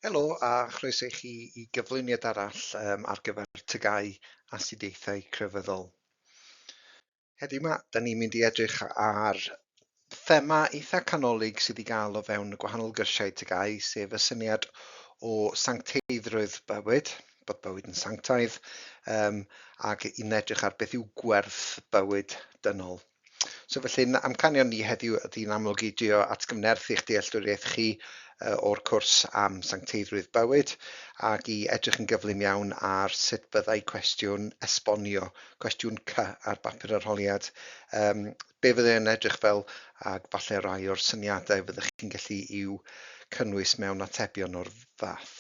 Helo a chroeso i chi i gyflwyniad arall um, ar gyfer tygau astudiaethau crefyddol. Heddiw yma, da ni'n mynd i edrych ar thema eitha canolig sydd i gael o fewn y gwahanol gyrsiau tygau, sef y syniad o sancteiddrwydd bywyd, bod bywyd yn sanctaidd, um, ac i'n edrych ar beth yw gwerth bywyd dynol. So felly, amcanion ni heddiw ydy'n amlwg i drio atgyfnerth i'ch dealltwriaeth chi o'r cwrs am sancteiddrwydd bywyd ac i edrych yn gyflym iawn ar sut byddai cwestiwn esbonio, cwestiwn C ar bapur arholiad, um, be fyddai yn edrych fel ac falle rai o'r syniadau fyddwch chi'n gallu i'w cynnwys mewn atebion o'r fath.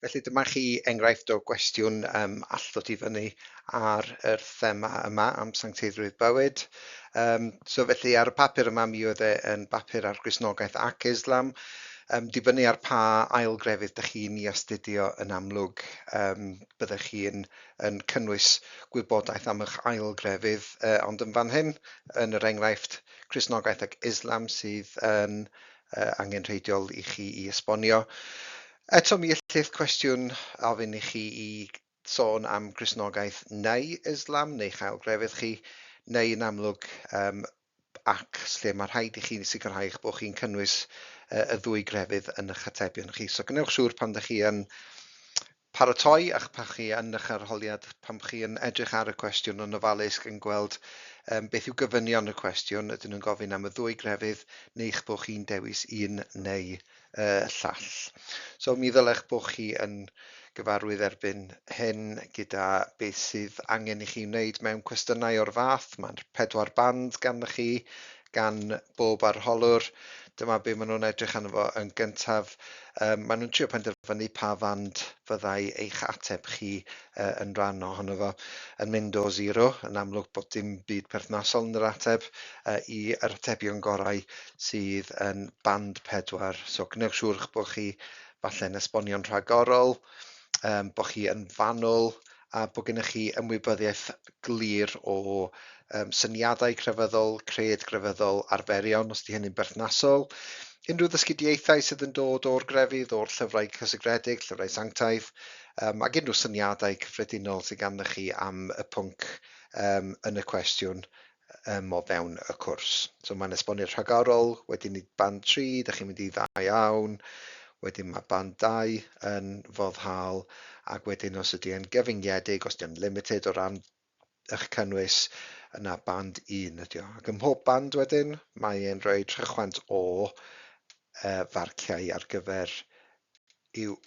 Felly dyma chi enghraifft o gwestiwn um, all ddod i fyny ar yr thema yma am sancteiddrwydd bywyd. Um, so felly ar y papur yma mi oedd e yn bapur ar Grisnogaeth ac Islam, um, dibynnu ar pa ail grefydd dych chi'n i astudio yn amlwg, um, byddech chi'n yn cynnwys gwybodaeth am eich ail grefydd, uh, ond yn fan hyn, yn yr enghraifft, Crisnogaeth ac Islam sydd yn uh, angenrheidiol i chi i esbonio. Eto mi ellith cwestiwn ofyn i chi i sôn am grisnogaeth neu Islam neu chael grefydd chi, neu yn amlwg um, ac lle mae rhaid i chi sicrhau eich bod chi'n cynnwys uh, y ddwy grefydd yn eich atebion chi. So gwnewch siŵr pan ydych chi yn Paratoi a'ch pachu yn eich arholiad pan chi yn edrych ar y cwestiwn yn ofalus gan gweld um, beth yw gofynion y cwestiwn, ydyn nhw'n gofyn am y ddwy grefydd neu'ch bod chi'n dewis un neu y llall. So mi ddylech bod chi yn gyfarwydd erbyn hyn gyda beth sydd angen i chi wneud mewn cwestiynau o'r fath. Mae'r pedwar band ganddo chi, gan bob arholwr, dyma be maen nhw'n edrych arno fo yn gyntaf. Um, maen nhw'n trio penderfynu pa fand fyddai eich ateb chi uh, yn rhan ohono fo. Yn mynd o zero, yn amlwg bod dim byd perthnasol yn yr ateb, uh, i yr atebion gorau sydd yn band pedwar. So gwnewch siŵr bod chi falle'n esbonio'n rhagorol, um, bod chi yn fanwl, a bod gennych chi ymwybyddiaeth glir o um, syniadau crefyddol, cred grefyddol, arferion, os di hynny'n berthnasol, unrhyw ddysgidiaethau sydd yn dod o'r grefydd, o'r llyfrau cysegredig, llyfrau sanctaidd, um, ac unrhyw syniadau cyffredinol sydd ganddo chi am y pwnc um, yn y cwestiwn yym o fewn y cwrs. So mae'n esbonio'r rhagorol, wedyn i band 3, da chi'n mynd i ddau awn, wedyn mae band 2 yn foddhaol, ac wedyn os ydy e'n gyfyngiedig, os ydy'n limited o ran eich cynnwys, yna band 1 ydy o. Ac ym mhob band wedyn, mae e'n rhoi rhychwant o uh, farciau ar gyfer i'w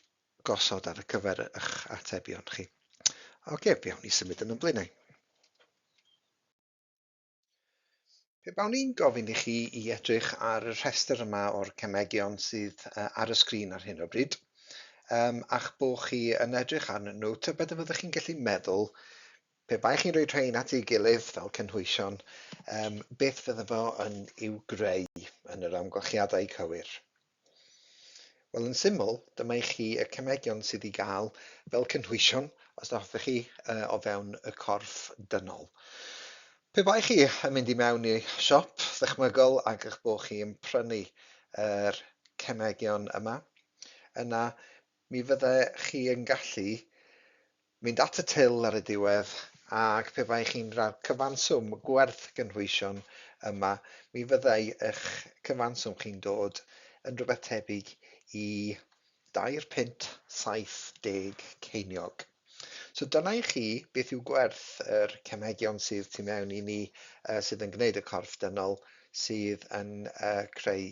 gosod ar y cyfer eich atebion chi. Oce, okay, fi awn i symud yn ymlaen. Pe bawn i'n gofyn i chi i edrych ar y rhestr yma o'r cemegion sydd uh, ar y sgrin ar hyn o bryd, um, a'ch bo chi yn edrych arnyn nhw, tybed y fyddwch chi'n gallu meddwl, pe bai chi'n rhoi rhain at ei gilydd fel cynhwysion, um, beth fydde fo yn i'w greu yn yr amgylchiadau cywir? Wel, yn syml, dyma i chi y cemegion sydd i gael fel cynhwysion os na hoffech chi uh, o fewn y corff dynol. Pe bai chi yn mynd i mewn i siop ddychmygol ac eich bod chi yn prynu yr er cemegion yma, yna mi fydde chi yn gallu mynd at y til ar y diwedd, ac pe baech chi'n rhannu'r cyfanswm gwerth gynhwysion yma, mi fyddai eich cyfanswm chi'n dod yn rhywbeth tebyg i dair punt saith deg ceiniog. So dyna i chi beth yw gwerth yr cemegion sydd tu mewn i ni, sydd yn gwneud y corff dynol, sydd yn creu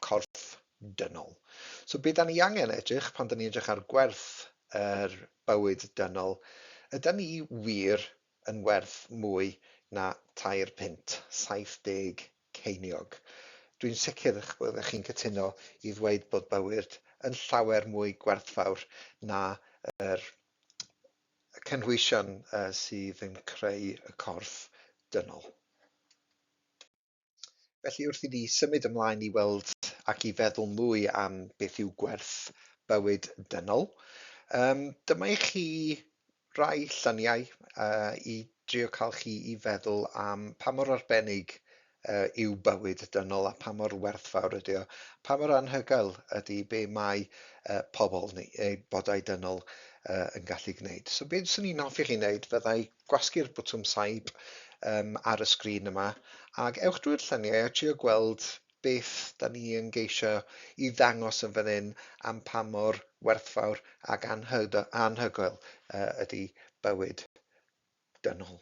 corff dynol. So be 'dan ni angen edrych pan 'dan ni'n edrych ar gwerth yr bywyd dynol, ydan ni wir yn werth mwy na tair punt, 70 ceiniog? Dwi'n sicr eich bod chi'n cytuno i ddweud bod bywyd yn llawer mwy gwerthfawr na yr cynhwysion sydd yn creu y corff dynol. Felly wrth i ni symud ymlaen i weld ac i feddwl mwy am beth yw gwerth bywyd dynol, um, dyma i chi rai lluniau uh, i drio cael chi i feddwl am pa mor arbennig uh, yw bywyd dynol a pa mor werthfawr ydy o, pa mor anhygoel ydy be mae uh, pobl neu eu bodau dynol uh, yn gallu gwneud. So beth sy'n ni'n hoffi chi wneud fyddai gwasgu'r botwm saib um, ar y sgrin yma, ac ewch drwy'r lluniau a trio gweld beth da ni yn geisio i ddangos yn fan hyn am pa mor werthfawr ac anhygoel uh, ydy bywyd dynol.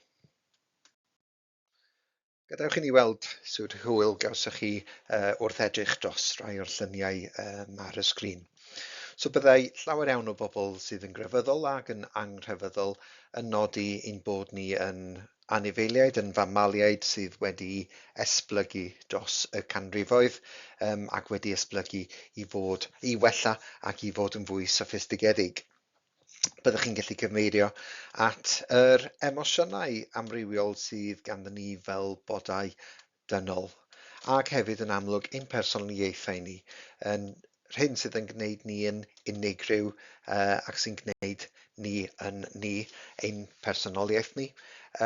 Gadewch i ni weld sut hwyl gawsoch chi uh, wrth edrych dros rai o'r lluniau um, ar y sgrin. So byddai llawer iawn o bobl sydd yn grefyddol ac yn angrefyddol yn nodi ein bod ni yn anifeiliaid, yn famaliaid sydd wedi esblygu dros y canrifoedd um, ac wedi esblygu i fod i wella ac i fod yn fwy soffistigedig. byddwch chi'n gallu cyfeirio at yr emosiynau amrywiol sydd ganddyn ni fel bodau dynol, ac hefyd yn amlwg ein personoliaethau ni, yn rhywun sydd yn gwneud ni yn unigryw uh, ac sy'n gwneud ni yn ni, ein personoliaeth ni,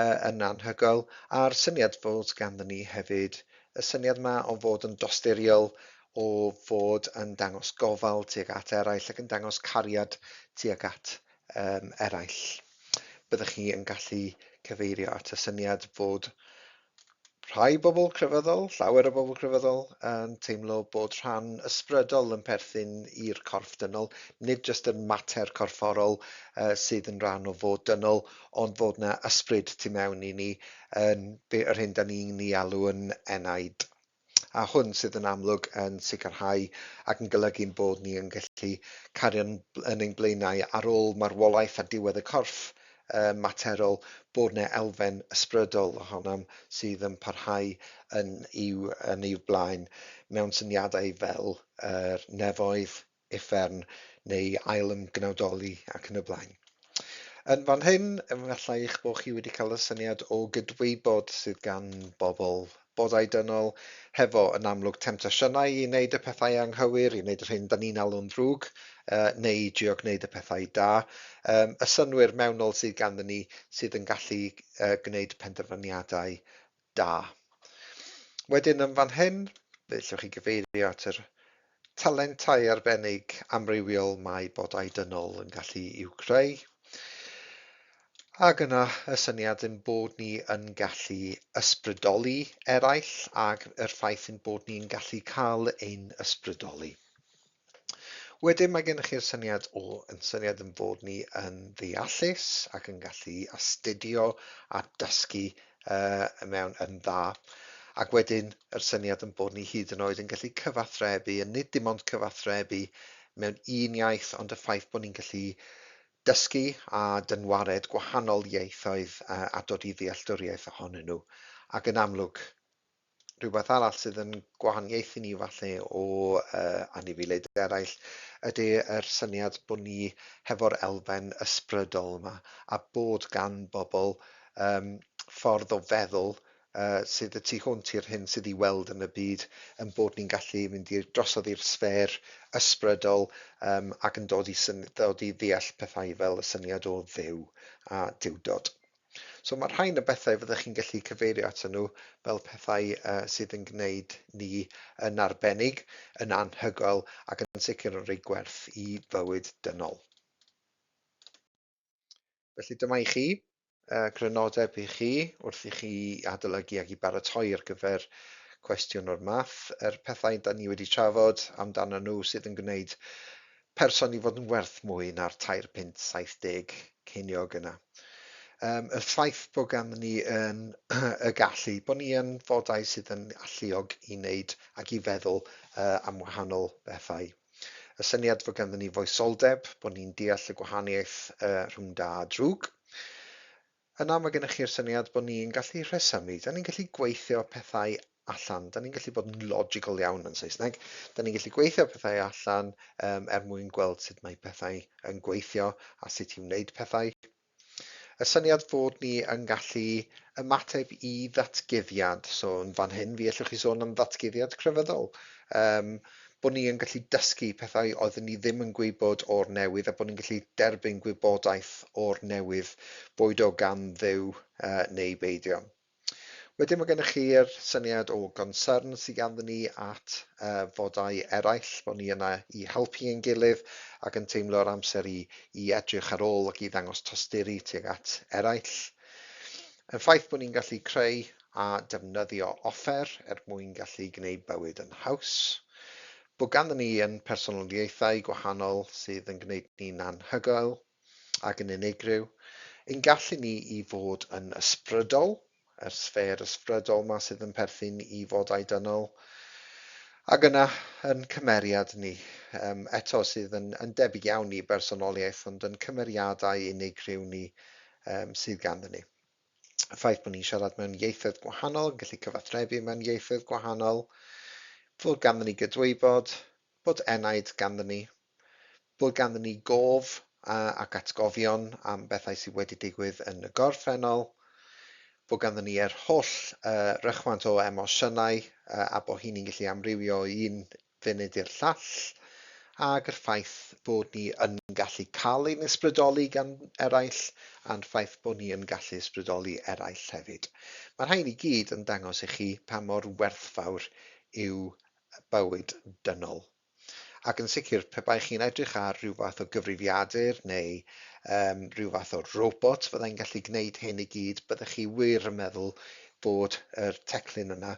uh, yn anhygoel, a'r syniad fod ganddyn ni hefyd y syniad yma o fod yn dosturiol o fod yn dangos gofal tuag at eraill ac yn dangos cariad tuag at um, eraill. Byddwch chi yn gallu cyfeirio at y syniad fod rhai bobl crefyddol, llawer o bobl crefyddol, yn teimlo bod rhan ysbrydol yn perthyn i'r corff dynol, nid jyst yr mater corfforol uh, sydd yn rhan o fod dynol, ond fod yna ysbryd tu mewn i ni, yn, yr hyn da ni'n ei alw yn enaid. a hwn sydd yn amlwg yn sicrhau ac yn golygu'n bod ni yn gallu cario yn ein blaenau ar ôl marwolaeth a diwedd y corff um, materol, bod yna elfen ysbrydol ohonom sydd yn parhau yn i'w, yn i'w blaen mewn syniadau fel yr nefoedd, uffern neu ailymgnawdoli ac yn y blaen. Yn fan hyn, efallai eich bod chi wedi cael y syniad o gydwybod sydd gan bobl bodau dynol hefo yn amlwg temtasiynau i wneud y pethau anghywir, i wneud yr hyn da ni'n alw'n ddrwg, uh, neu i drio gwneud y pethau da. Um, y synwyr mewnol sydd ganddyn ni sydd yn gallu uh, gwneud penderfyniadau Da. Wedyn yn fan hyn, fe ellwch chi gyfeirio at yr talentau arbennig amrywiol mae bodau dynol yn gallu i'w creu. Ac yna y syniad yn bod ni yn gallu ysbrydoli eraill ac yr ffaith yn bod ni'n gallu cael ein ysbrydoli. Wedyn mae gennych chi'r syniad o yn syniad yn fod ni yn ddeallus ac yn gallu astudio a dysgu uh, mewn yn dda. Ac wedyn yr syniad yn bod ni hyd yn oed yn gallu cyfathrebu, a nid dim ond cyfathrebu mewn un iaith, ond y ffaith bod ni'n gallu dysgu a dynwared gwahanol ieithoedd uh, a dod i ddealltwriaeth ohonyn nhw. Ac yn amlwg, Rhywbeth arall sydd yn gwahaniaethu ni falle o uh, anifeiliaid eraill ydy yr syniad bod ni hefo'r elfen ysbrydol yma a bod gan bobl um, ffordd o feddwl uh, sydd y tu hwnt i'r hyn sydd i weld yn y byd, yn bod ni'n gallu mynd i'r drosodd i'r sfer ysbrydol um, ac yn dod i, syn, dod i ddeall pethau fel y syniad o ddew a diwdod. So mae rhain y bethau fyddwch chi'n gallu cyfeirio ato nhw fel pethau uh, sydd yn gwneud ni yn arbennig, yn anhygoel ac yn sicr yn rhoi gwerth i fywyd dynol. Felly dyma i chi uh, grynodeb i chi wrth i chi adolygu ac i baratoi ar gyfer cwestiwn o'r math, yr pethau da ni wedi trafod amdano nhw sydd yn gwneud person i fod yn werth mwy na'r tair punt saith deg ceiniog yna. Um, y ffaith bod gan ni yn y gallu, bod ni yn fodau sydd yn alluog i wneud ac i feddwl uh, am wahanol bethau. Y syniad fod ganddyn ni foesoldeb, bod ni'n deall y gwahaniaeth uh, rhwng da a drwg. Yna mae gennych chi'r syniad bod ni'n gallu rhesymu, 'da ni'n gallu gweithio pethau allan, 'da ni'n gallu bod yn logical iawn yn Saesneg, 'da ni'n gallu gweithio pethau allan um, er mwyn gweld sut mae pethau yn gweithio a sut i wneud pethau. Y syniad fod ni yn gallu ymateb i ddatguddiad, so yn fan hyn fi allwch chi sôn am ddatguddiad crefyddol. Um, bod ni yn gallu dysgu pethau oedden ni ddim yn gwybod o'r newydd a bod ni'n gallu derbyn gwybodaeth o'r newydd, boed o gan Dduw neu beidio. Wedyn mae gennych chi'r syniad o gonsern sydd ganddyn ni at fodau eraill, bod ni yna i helpu ein gilydd ac yn teimlo'r amser i, i edrych ar ôl ac i ddangos tosturi tuag at eraill. Y ffaith bod ni'n gallu creu a defnyddio offer er mwyn gallu gwneud bywyd yn haws. Bod ganddyn ni yn personoliaethau gwahanol sydd yn gwneud ni'n anhygoel ac yn unigryw. Ein gallu ni i fod yn ysbrydol, yr sffêr ysbrydol ma sydd yn perthyn i fodau dynol. Ac yna, yn cymeriad ni, um, eto sydd yn, yn debyg iawn i bersonoliaeth, ond yn cymeriadau unigryw ni um, sydd ganddyn ni. y ffaith bod ni'n siarad mewn ieithoedd gwahanol, yn gallu cyfathrebu mewn ieithoedd gwahanol, fod ganddyn ni gydwybod, bod enaid ganddyn ni, bod ganddyn ni gof ac atgofion am bethau sydd wedi digwydd yn y gorffennol, bod ganddyn ni yr holl uh, rychwant o emosiynau uh, a bod hynny'n gallu amrywio o un funud i'r llall, ac yr ffaith bod ni yn gallu cael ein ysbrydoli gan eraill, a'n ffaith bod ni yn gallu ysbrydoli eraill hefyd. Mae'r rhain i gyd yn dangos i chi pa mor werthfawr yw bywyd dynol. Ac yn sicr, pe baech chi'n edrych ar rhyw fath o gyfrifiadur neu um, rhyw fath o robot fyddai'n gallu gwneud hyn i gyd, byddech chi wir yn meddwl bod yr teclyn yna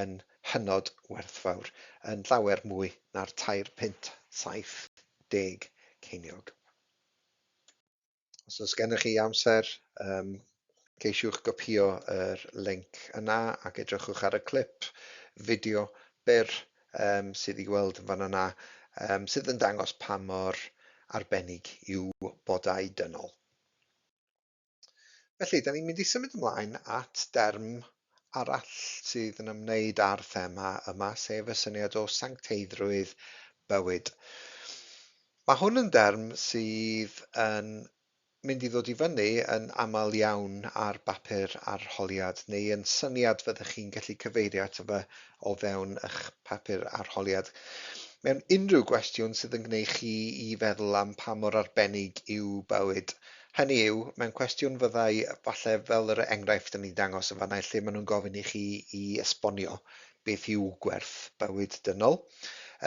yn hynod werthfawr, yn llawer mwy na'r tair punt saith deg ceiniog. Os oes gennych chi amser, um, ceisiwch gopio yr link yna ac edrychwch ar y clip fideo byr um, sydd i weld yn fan yna, um, sydd yn dangos pa mor arbennig yw bodau dynol. Felly, da ni'n mynd i symud ymlaen at derm arall sydd yn ymwneud â'r thema yma, sef y syniad o sancteiddrwydd bywyd. Mae hwn yn derm sydd yn mynd i ddod i fyny yn aml iawn ar bapur arholiad neu yn syniad fyddwch chi'n gallu cyfeirio ato fe o fewn eich papur arholiad. Mewn unrhyw gwestiwn sydd yn gwneud chi i feddwl am pa mor arbennig yw bywyd, Hynny yw, mewn cwestiwn fyddai falle fel yr enghraifft o'n i'n dangos yn fan'na lle maen nhw'n gofyn i chi i esbonio beth yw gwerth bywyd dynol,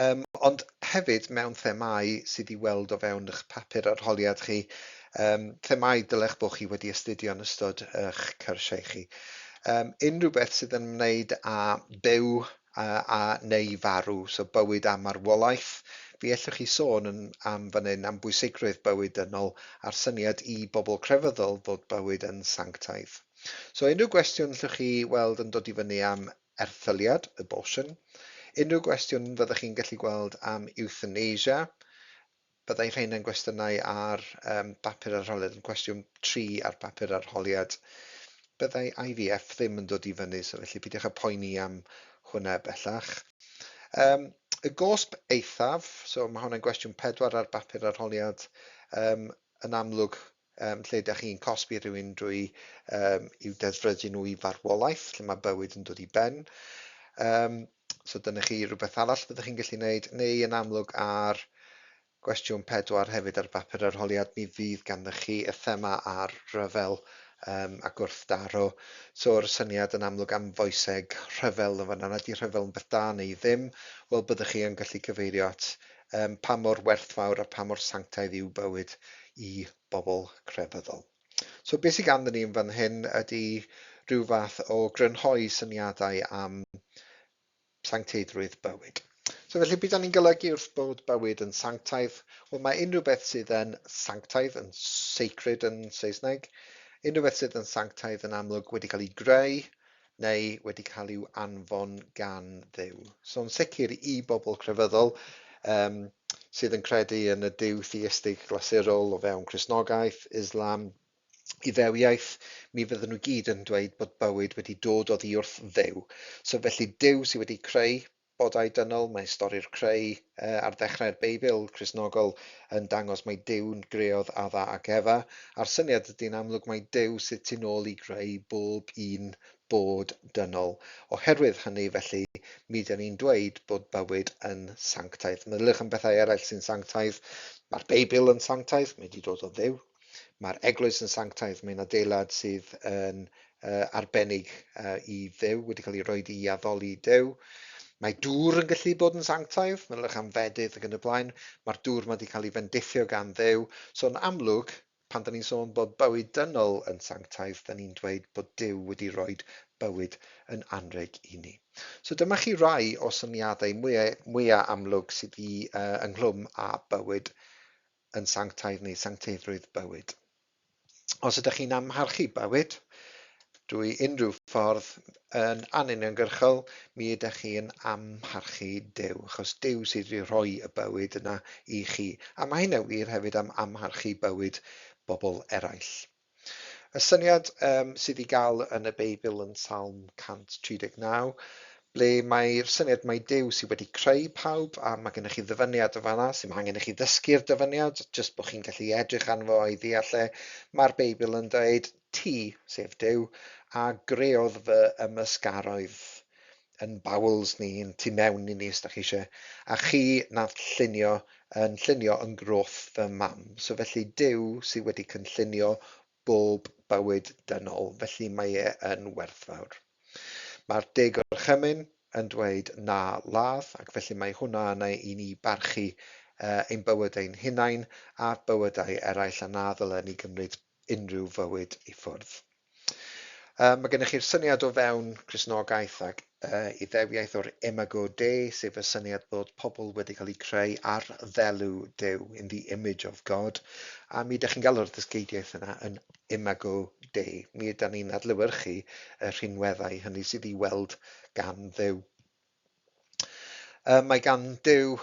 um, ond hefyd mewn themau sydd i weld o fewn eich papur arholiad chi, um, themau dylech bod chi wedi astudio yn ystod eich cyrsiau chi. Um, unrhyw beth sydd yn ymwneud â byw a, a, neu i farw, so bywyd a marwolaeth. Fe ellwch chi sôn yn, am fan hyn am bwysigrwydd bywyd dynol a'r syniad i bobl crefyddol fod bywyd yn sanctaidd. So unrhyw gwestiwn llwch chi weld yn dod i fyny am erthyliad, abortion, unrhyw gwestiwn fyddwch chi'n gallu gweld am euthanasia, Byddai rhain yn gwestiynau ar um, bapur arholiad, yn cwestiwn tri ar bapur arholiad. Byddai IVF ddim yn dod i fyny, so felly peidiwch â poeni am hwnna bellach. Um, y gosb eithaf, so mae hwnna'n gwestiwn pedwar ar bapur arholiad, um, yn amlwg Yym, lle ydych chi'n cosbi rhywun drwy um, i'w deddfrydu nhw i farwolaeth, lle mae bywyd yn dod i ben. Um, so dyna chi rhywbeth arall byddwch chi'n gallu gwneud, neu yn amlwg ar gwestiwn pedwar hefyd ar bapur arholiad, mi fydd ganddo chi y thema ar rhyfel um, a gwrthdaro. So'r syniad yn amlwg am foeseg rhyfel yn fanna, nad ydy rhyfel yn beth da neu ddim, wel byddwch chi yn gallu cyfeirio at um, pa mor werthfawr a pa mor sanctaidd yw bywyd i bobl crefyddol. So beth sydd ganddyn ni yn fan hyn ydy rhyw fath o grynhoi syniadau am sancteiddrwydd bywyd. So felly, beth ni'n golygu wrth bod bywyd yn sanctaidd? Wel, mae unrhyw beth sydd yn sanctaidd, yn sacred yn Saesneg, unrhyw beth sydd yn sanctaidd yn amlwg wedi cael ei greu, neu wedi cael i'w anfon gan Dduw. So yn sicr i bobl crefyddol um, sydd yn credu yn y Duw theistig glasurol o fewn Cresnogaeth, Islam, Iddewiaeth, mi fydden nhw gyd yn dweud bod bywyd wedi dod oddi wrth Dduw. So felly Duw sydd wedi creu Bodau Dynol, Mae stori'r creu ar ddechrau'r Beibl Cristnogol yn dangos mai Duw'n greodd Adda ac Efa, a'r syniad ydy'n amlwg mai Duw sydd tu nôl i greu bob un bod dynol. Oherwydd hynny, felly, mi ydan ni'n dweud bod bywyd yn sanctaidd. Meddyliwch am bethau eraill sy'n sanctaidd. Mae'r Beibl yn sanctaidd, mae wedi dod o Dduw. Mae'r eglwys yn sanctaidd, mae'n adeilad sydd yn uh, arbennig uh, i ddew, wedi cael ei roi i addoli dew. Mae dŵr yn gallu bod yn sanctaidd, mae'n rych am fedydd ac yn y blaen. Mae'r dŵr mae wedi cael ei fendithio gan ddew. So'n amlwg, pan da ni'n sôn bod bywyd dynol yn sanctaidd, da ni'n dweud bod dew wedi rhoi bywyd yn anreg i ni. So dyma chi rai o syniadau mwyaf, mwyaf amlwg sydd i uh, ynghlwm â bywyd yn sanctaidd neu sancteiddrwydd bywyd. Os ydych chi'n amharchu bywyd drwy unrhyw ffordd yn anuniongyrchol, mi ydych chi yn amharchu Duw, achos Duw sydd wedi rhoi y bywyd yna i chi. A mae hynna wir hefyd am amharchu bywyd bobl eraill. Y syniad um, sydd i gael yn y Beibl yn Salm 139, ble mae'r syniad mae Duw sydd wedi creu pawb a mae gennych chi ddyfyniad o fanna sy'n mae angen i chi ddysgu'r dyfyniad, jyst bod chi'n gallu edrych arno fo i ddeall e. Mae'r Beibl yn dweud ti, sef Duw, a greodd fy ymysgaroedd. yn bowels ni, yn tu mewn i ni os dach chi eisiau, a chi nath llunio yn llunio yn groth fy mam. So felly Duw sydd wedi cynllunio bob bywyd dynol, felly mae e yn werthfawr. Mae'r De Gorchymyn yn dweud na ladd, ac felly mae hwnna yna i ni barchu uh, ein bywyd ein hunain a bywydau eraill, a na ddylen ni gymryd unrhyw fywyd i ffwrdd. Um, mae gennych chi'r syniad o fewn Crisnogaeth ac uh, iddewiaeth o'r imago Dei, sef y syniad bod pobl wedi cael eu creu ar ddelw Dyw, in the image of God, a mi ydych chi'n galw'r ddysgeidiaeth yna yn imago Dei. Mi ydyn ni'n adlywyrchu y rhinweddau hynny sydd i weld gan ddew. Uh, mae gan ddew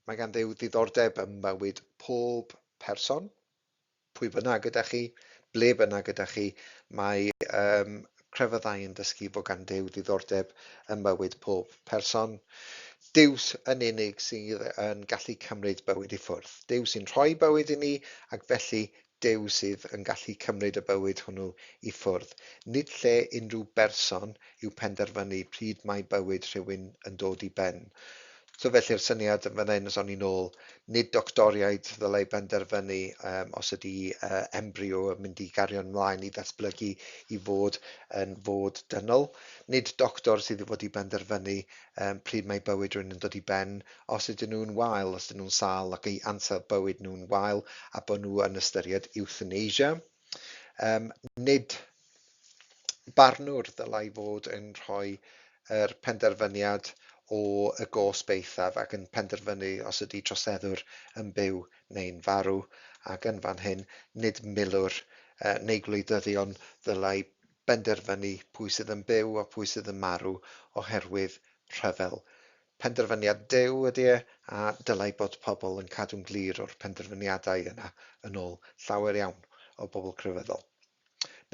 mae gan ddew ddiddordeb ym mywyd pob person, pwy bynnag gyda chi, ble bynnag gyda chi, mae um, crefyddau yn dysgu bod gan Duw diddordeb ym mywyd pob person. Dews yn unig sydd yn gallu cymryd bywyd i ffwrdd. Dew sy'n rhoi bywyd i ni, ac felly Dew sydd yn gallu cymryd y bywyd hwnnw i ffwrdd. Nid lle unrhyw berson yw penderfynu pryd mae bywyd rhywun yn dod i ben. So felly'r syniad yn fan hyn, os o'n i'n ôl, nid doctoriaid ddylai benderfynu um, os ydy uh, embryo yn mynd i gario'n mlaen i ddatblygu i fod yn fod dynol. Nid doctor sydd wedi benderfynu um, pryd mae bywyd rhywun yn dod i ben, os ydyn nhw'n wael, os ydyn nhw'n sal ac ei ansawdd bywyd nhw'n wael a bod nhw yn ystyried euthanasia. Um, nid barnwr ddylai fod yn rhoi yr penderfyniad o y gosb eithaf ac yn penderfynu os ydy troseddwr yn byw neu'n farw, ac yn fan hyn, nid milwr uh, neu gwleidyddion ddylai benderfynu pwy sydd yn byw a pwy sydd yn marw oherwydd rhyfel. Penderfyniad Duw ydy e, a dylai bod pobl yn cadw'n glir o'r penderfyniadau yna yn ôl llawer iawn o bobl crefyddol.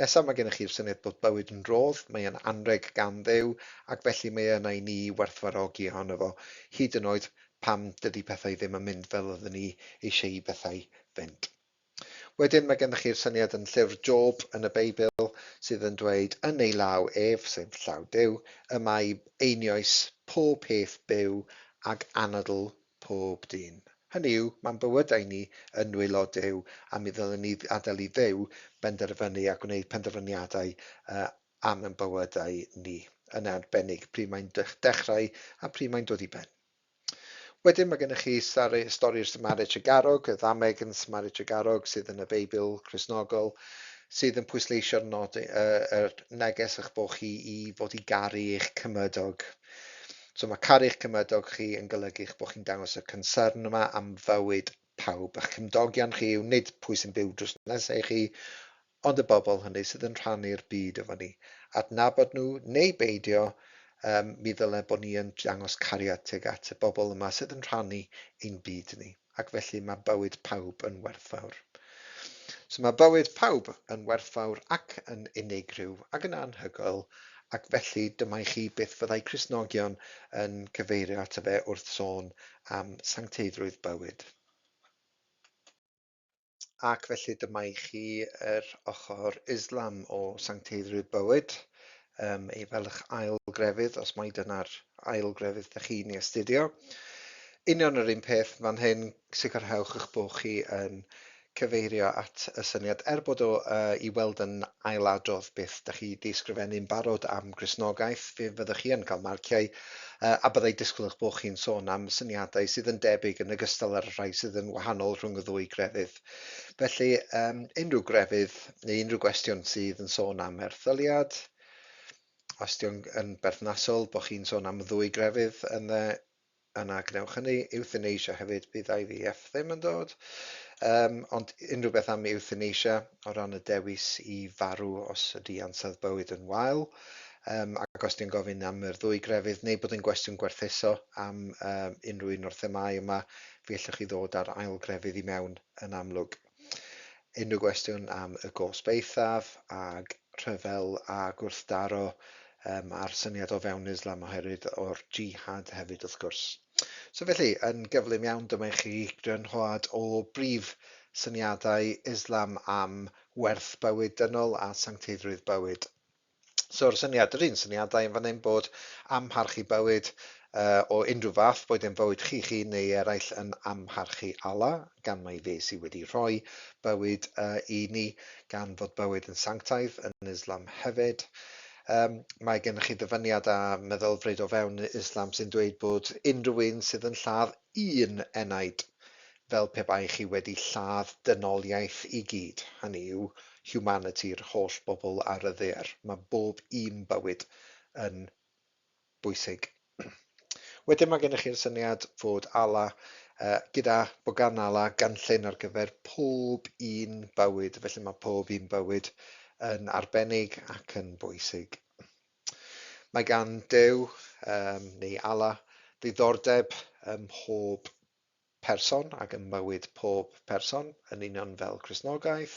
Nesaf mae gennych chi'r syniad bod bywyd yn rhodd, mae e'n anrheg gan Dduw, ac felly mae e yna i ni i werthfawrogi ohono fo, hyd yn oed pan dydy pethau ddim yn mynd fel oedden ni eisiau i bethau fynd. Wedyn mae gennych chi'r syniad yn llyfr Job yn y Beibl sydd yn dweud, yn ei law ef, sef llaw Duw, y mae einioes pob peth byw ac anadl Pob dyn. Hynny yw, mae'n bywydau ni yn nwylo Duw a mi ddylem ni adael i Dduw benderfynu a gwneud penderfyniadau am ein bywydau ni, yn arbennig pryd mae'n dechrau a pryd mae'n dod i ben. Wedyn mae gennych chi stori'r Samari Tregarog, y ddameg yn Samari Tregarog sydd yn y Beibl Cristnogol, sydd yn pwysleisio'r nod, yr neges eich bod chi i fod i garu eich cymydog. So mae caru'ch cymydog chi yn golygu'ch bod chi'n dangos y concern yma am fywyd pawb. A'ch cymdogion chi yw nid pwy sy'n byw drws nesa i chi, ond y bobl hynny sydd yn rhannu'r byd efo ni. Adnabod nhw neu beidio, um, mi ddyle bod ni yn dangos cariad tuag at y bobl yma sydd yn rhannu ein byd ni. ac felly mae bywyd pawb yn werthfawr. So mae bywyd pawb yn werthfawr ac yn unigryw ac yn anhygoel, ac felly dyma i chi beth fyddai Cristnogion yn cyfeirio ato fe wrth sôn am sancteiddrwydd bywyd. Ac felly dyma i chi yr ochr Islam o sancteiddrwydd bywyd, um, ei felch ail grefydd, os mai dyna'r ail grefydd ydych chi'n ei astudio. Union yr un peth fan hyn, sicrhewch eich bod chi yn cyfeirio at y syniad, er bod o uh, i weld yn ailadrodd beth ydych chi wedi ysgrifennu'n barod am Grisnogaeth, fe fyddwch chi yn cael marciau a byddai disgwyl eich bod chi'n sôn am syniadau sydd yn debyg yn ogystal â'r rhai sydd yn wahanol rhwng y ddwy grefydd. Felly, um, unrhyw grefydd neu unrhyw gwestiwn sydd yn sôn am erthyliad, os di'n yn berthnasol bod chi'n sôn am y ddwy grefydd yn dde, yna gwnewch hynny. Euthanasia hefyd, bydd IVF ddim yn dod. Um, ond unrhyw beth am euthanasia o ran y dewis i farw os ydy ansawdd bywyd yn wael. Yym, ac os dwi'n gofyn am yr ddwy grefydd, neu bod yn gwestiwn gwerthuso am um, unrhyw un o'r themâu yma, fe allwch chi ddod â'r ail grefydd i mewn yn amlwg. Unrhyw gwestiwn am y gosb eithaf ag rhyfel a gwrthdaro um, a'r syniad o fewn Islam oherwydd o'r jihad hefyd wrth gwrs. So felly, yn gyflym iawn, dyma i chi grynhoad o brif syniadau Islam am werth bywyd dynol a sancteiddrwydd bywyd. So'r syniad, yr un syniadau yn fan hyn bod amharchu bywyd uh, o unrhyw fath, boed yn fywyd chi'ch hun neu eraill yn amharchu Allah, gan mai fe sydd wedi rhoi bywyd uh, i ni, gan fod bywyd yn sanctaidd yn Islam hefyd. Um, mae gennych chi ddyfyniad a meddylfryd o fewn Islam sy'n dweud bod unrhyw un sydd yn lladd un enaid fel pe bai chi wedi lladd dynoliaeth i gyd, hynny yw, humanity-r holl bobl ar y ddaear. Mae bob un bywyd yn bwysig. Wedyn mae gennych chi'r syniad fod Allah, uh, gyda bogan Allah, gynllun ar gyfer pob un bywyd, felly mae pob un bywyd yn arbennig ac yn bwysig. Mae gan Dew, um, neu Allah, ddiddordeb ym mhob person ac ym mywyd pob person, yn union fel Cristnogaeth,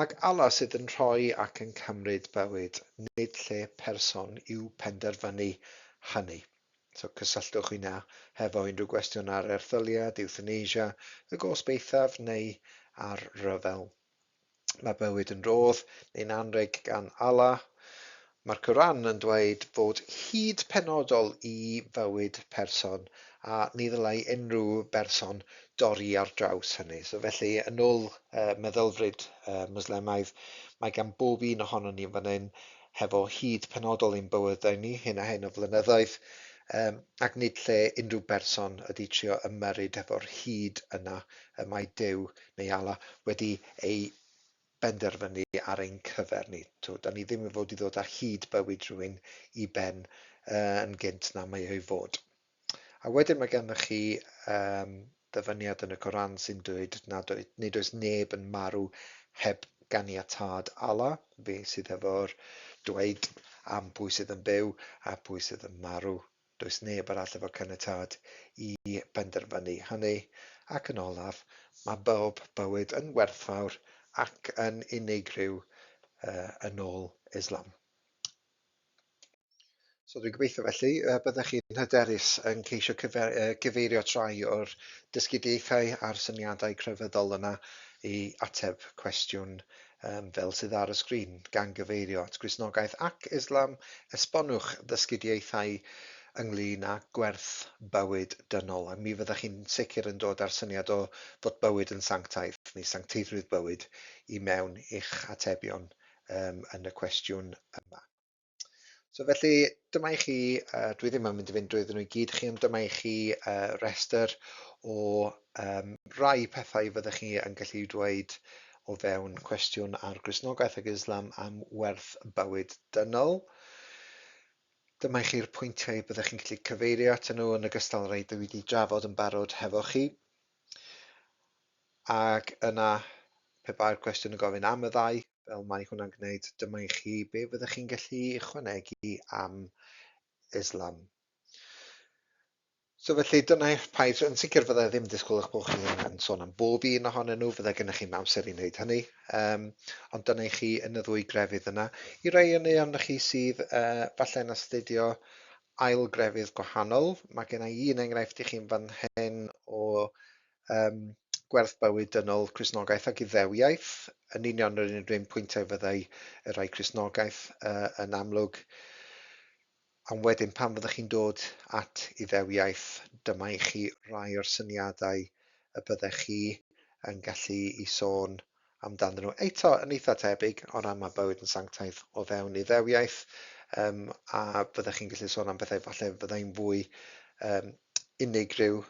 ac Allah sydd yn rhoi ac yn cymryd bywyd, nid lle person yw penderfynu hynny. So cysylltwch hynna hefo unrhyw gwestiwn ar erthyliad, ewthanasia, y gosb eithaf neu ar ryfel. Mae bywyd yn rhodd neu'n anrheg gan Allah. Mae'r Quran yn dweud fod hyd penodol i fywyd person a ni ddylai unrhyw berson dorri ar draws hynny. So felly, yn ôl uh, meddylfryd uh, Mwslemaidd, mae gan bob un ohono ni fan hyn hefo hyd penodol i'n bywydau ni, hyn a hyn o flynyddoedd, um, ac nid lle unrhyw berson ydy trio ymyrryd hefo'r hyd yna y mae Dyw Mae Allah wedi ei benderfynu ar ein cyfer ni. Tibod, da ni ddim yn fod i ddod ar hyd bywyd rhywun i ben uh, yn gynt na mae ei fod. A wedyn mae gennych chi um, ddyfyniad yn y Coran sy'n dweud nad oed, nid oes neb yn marw heb ganiatad Allah, fe sydd efo'r dweud am pwy sydd yn byw a pwy sydd yn marw. Does neb arall efo caniatâd i benderfynu hynny. Ac yn olaf, mae bob bywyd yn werthfawr ac yn unigryw yn ôl Islam. So dwi'n gobeithio felly y byddech chi'n hyderus yn ceisio cyfeirio trai o'r dysgudiaethau a'r syniadau crefyddol yna i ateb cwestiwn um, fel sydd ar y sgrin, gan gyfeirio at Gristnogaeth ac Islam, esbonwch ddysgidiaethau ynglyn â gwerth bywyd dynol, a mi fyddech chi'n sicr yn dod â'r syniad o fod bywyd yn sanctaidd, neu sancteiddrwydd bywyd, i mewn i'ch atebion um, yn y cwestiwn yma. So felly, dyma i chi, uh, dwi ddim yn mynd i fynd drwy nhw i gyd chi, ond dyma i chi uh, rester o um, rai pethau fyddech chi yn gallu dweud o fewn cwestiwn ar grisnogaeth ag Islam am werth bywyd dynol. Dyma i chi'r pwyntiau byddech chi'n gallu cyfeirio at nhw yn ogystal â rhai dwi wedi drafod yn barod hefo chi. Ac yna, pe bai'r cwestiwn yn gofyn am y ddau, fel mae hwnna'n gwneud, dyma i chi be fyddech chi'n gallu ychwanegu am Islam. So felly dyna eich paid, yn sicr fydda i ddim yn disgwyl eich bod chi'n yn sôn am bob un ohonyn nhw, fydda gennych chi'n amser i wneud hynny, um, ond dyna i chi yn y ddwy grefydd yna. I rai yn ei arnoch chi sydd uh, falle yn astudio ail grefydd gwahanol. Mae gen i un enghraifft i chi'n fan hyn o um, gwerth bywyd dynol Crisnogaeth ac Iddewiaeth, yn union yr un rhywun pwyntiau fyddai y rhai Crisnogaeth uh, yn amlwg. Am wedyn pan fyddwch chi'n dod at Iddewiaeth, dyma i chi rai o'r syniadau y byddech chi yn gallu i sôn amdanddyn nhw eto yn eitha tebyg o ran mae bywyd yn sanctaidd o fewn iddewiaeth um, a byddech chi'n gallu sôn am bethau falle fyddai'n fwy um, unigryw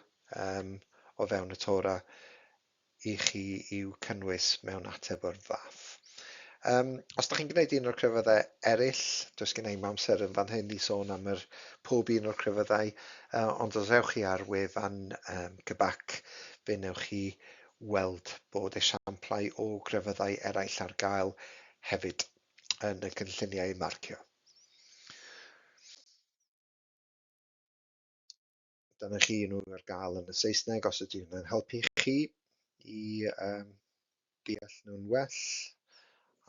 um, o fewn y Tora i chi i'w cynnwys mewn ateb o'r fath. Um, os da chi'n gwneud un o'r crefyddau eraill, does gen i amser yn fan hyn i sôn am yr pob un o'r crefyddau, uh, ond os ewch chi ar wefan um, Cybac, fe newch chi weld bod esiamplau o grefyddau eraill ar gael hefyd yn y cynlluniau marcio. Dyna chi nhw ar gael yn y Saesneg os ydy hwnna'n helpu chi i um, deall nhw'n well.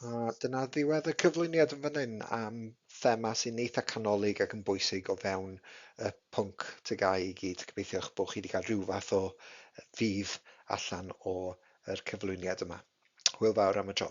A dyna ddiwedd y cyflwyniad yn fan hyn am thema sy'n eitha canolig ac yn bwysig o fewn y pwnc TGAU i gyd. Gobeithio eich bod chi wedi cael rhyw fath o fydd allan o'r cyflwyniad yma. Hwyl fawr am y tro.